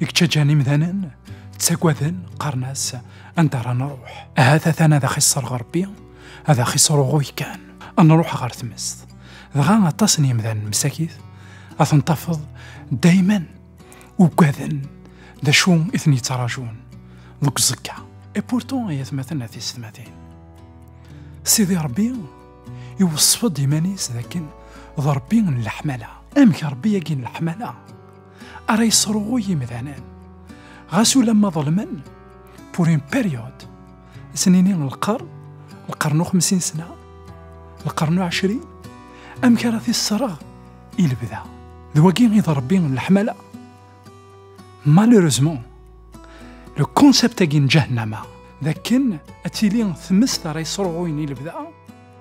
ikeččaǧan imdanen ttagaden qqaren-as anda ara nruḥ ahat atan ad axisser ɣerbi ad axisseruɣuy kan ad nruḥ ɣer tmest dɣa aṭas n yimdanen msakit ad ten-tafeḍ dayman ugaden d acu i ten-yettrajun deg uẓekka e pourtant ay atmaten a tisetmatin sidi rebbi iweṣṣef-d iman-is dakken d rebbi n leḥmala amek rebbi yagi n leḥmala ara yesruɣuy imdanen. Ɣas ulamma ḍelmen, pour une période, snini lqern, lqern u xemsin sena, lqern u ɛecrin, amek ara t-issereɣ i lebda. D wagi i d rebbi n leḥmala. Malheureusement, le concept-agi n ǧahennama, d akken ad tili tmest ara yesruɣuyen i lebda,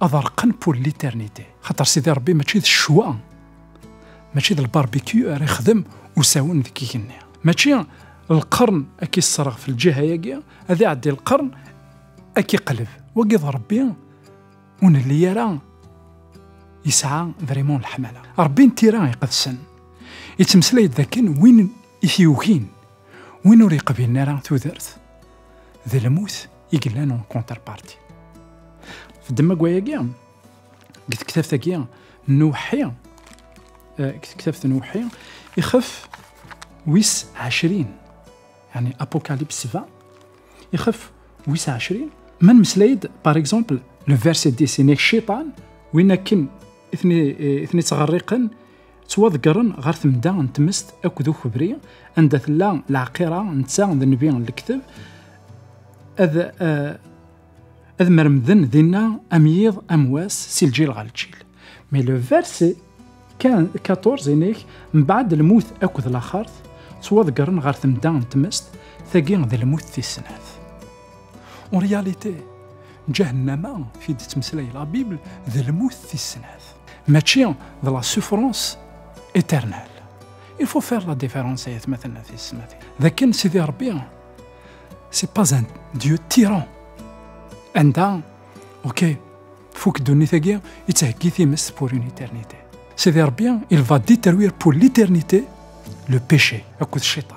ad rqen pour l'éternité xaṭer sidi rebbi mačči d ccwa mačči d lbarbecue ara ixdem usawen deg igenni mačči lqern ad k-isserɣ fi lǧiha-agi ad iɛeddi lqern ad k-iqleb wagi d rebbi ur nelli ara yesɛa vraiment leḥmala rebbi n tira iqedsen yettmeslay-d dakken win i t-yugin win ur yeqbilen ara tudert d lmut i yellan en contrepartie. Fdemma gwayagi, deg tektabt-agi n uweḥḥi, eh, deg tektabt n uweḥḥi, ixef wis ɛecrin, yani apocalypse sva, ixef wis ɛecrin, ma nmeslay-d, par exemple, le verset 10, nek cciṭan, win akken i ten-ittɣerriqen, ttwaḍeggren ɣer temda n tmest akked ukebri anda tella lɛaqira netta d nnbi n lekteb ad eh, ad mermden dinna am yiḍ am wass si lǧil ɣer lǧil mais le verset 14 inek mbaɛd lmut akked laxert ttwaḍeggren ɣer temda n tmest tagi d lmut tis snat En réalité, Jahannama, fi d-tettmeslay la Bible, d lmut tis snat. Mačči d la souffrance éternelle. Il faut faire la différence ay atmaten at yesmatin. D akken Sidi Rebbi, c'est pas un dieu tyran. Anda, ok, fuk ddunit-agi, yettheggi times pour une éternité. Sidi Rebbi, il va détruire pour l'éternité le péché, akked cciṭan.